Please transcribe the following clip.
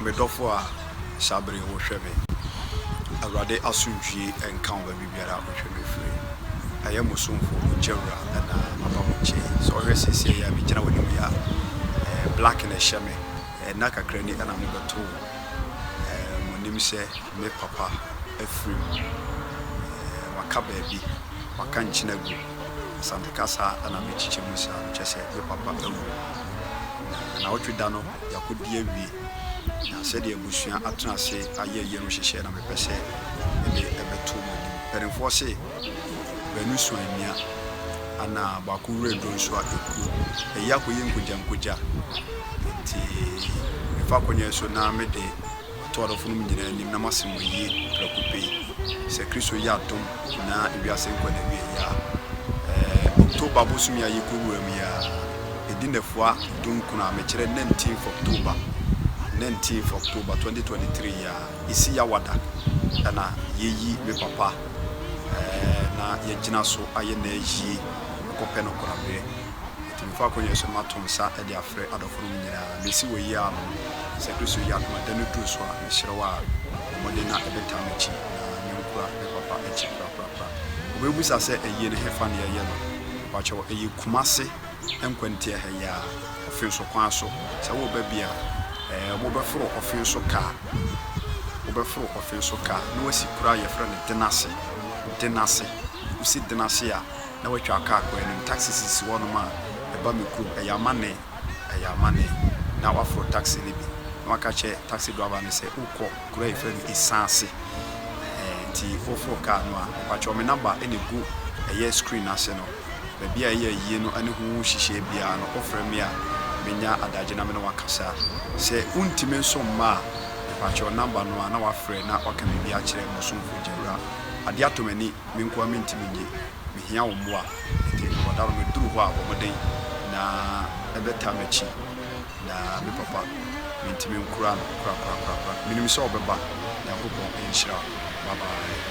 Me dɔfo a, saa bere yi wo hwɛ me. Awurade asomdwie nka wo baabi biara a wo hwɛ me firi. Ɛyɛ mo somfo ogya wura na maba wo nkyen yi. Sɛ wo hwɛ seesei yi a me gyina w'anim yi a, ɛɛ black na ɛhyɛ me. Ɛɛ nna kakra ni ɛna me bɛto wo. Ɛɛ mo nim sɛ me papa afiri mu. Ɛɛ waka baabi, waka nkyen agu. Asante kasa ɛna me kyekyɛ mu saa no kyerɛ sɛ me papa awu. Na anawɔtwe da no. yakodi awie na sɛdeɛ abusua atena ase ayɛ yie no nhyehyɛɛ na mepɛ sɛ mede ɛbɛto mo anim. Mpanimfoɔ se, Baanu sua amia, ana baako wura aduro nso a ɛkuo. Ayi akɔyɛ nkogyankogya. Enti mefa akonnwa yi so na mede. Mato adɔfo nom nyinaa anim na masi mo ayie prɛko pɛ yi. Sɛ Kristo yɛ adom na ewiase nkɔ n'awieeɛ a, ɛɛ October bosome a yɛkɔwura mu yi ara, ɛdi nnafua dunkron a, mekyerɛ nineteenth October, nineteenth October twenty twenty three yi ara, ɛsi Yawada ɛna yɛyi me papa ɛɛ na yɛagyina so ayɛ n'ayie akɔpɛ no koraberɛ. Nti mfa akɔnnye so mato nsa de afrɛ adɔfonom nyinaa. Mesi wɔ eyi ano no, sɛ Kristo yi apem da no duru so a, mesrɛ wo ara, bɔ mmɔden na bɛtaa m'akyi, na menkura me Papa akyi korakorakora. Wobɛbisa sɛ, Ayie no, hefa na yɛyɛ no? Mpa kyɛw, ɛyɛ Kumase nkwantia ha yi ara, ɔfe so kwan so. Sɛ woreba bi a, ɛɛ, wobɛforo ɔfe so kaa, wobɛforo ɔfe so kaa, na woasi kuro a yɛfrɛ no Denase, Denase, wosi Denase a, na watwa car kwan no mu, taxi sisi hɔnom a ɛba me kurom, ɛyɛ amanne, ɛyɛ amanne, na waforo taxi no bi, na waka akyerɛ taxi driver no sɛ wokɔ kuro a yɛfrɛ no Esaase, ɛɛ, nti woforo car no a, mpakyɛw me number na egu ɛyɛ screen no ase no, baabi a ɛyɛ ayie no ne ho nhyehyɛe biara no, wofrɛ me a, menya adagye na me ne wo akasa. Sɛ wontumi nso mma a, mpakyɛw number no a na wafrɛ na waka biribi akyerɛ Mosomfo Gyawura. Ade atɔ m'ani. Me nko ara mentumi nyɛ, mehia wo mmoa. Enti ɔda no meduru hɔ a wɔden na ɛbɛtaa m'akyi na me papa mentumi nkora no korakorakorakora. Menim sɛ ɔbɛba. Nyankopɔn nhyira wo. Bye bye.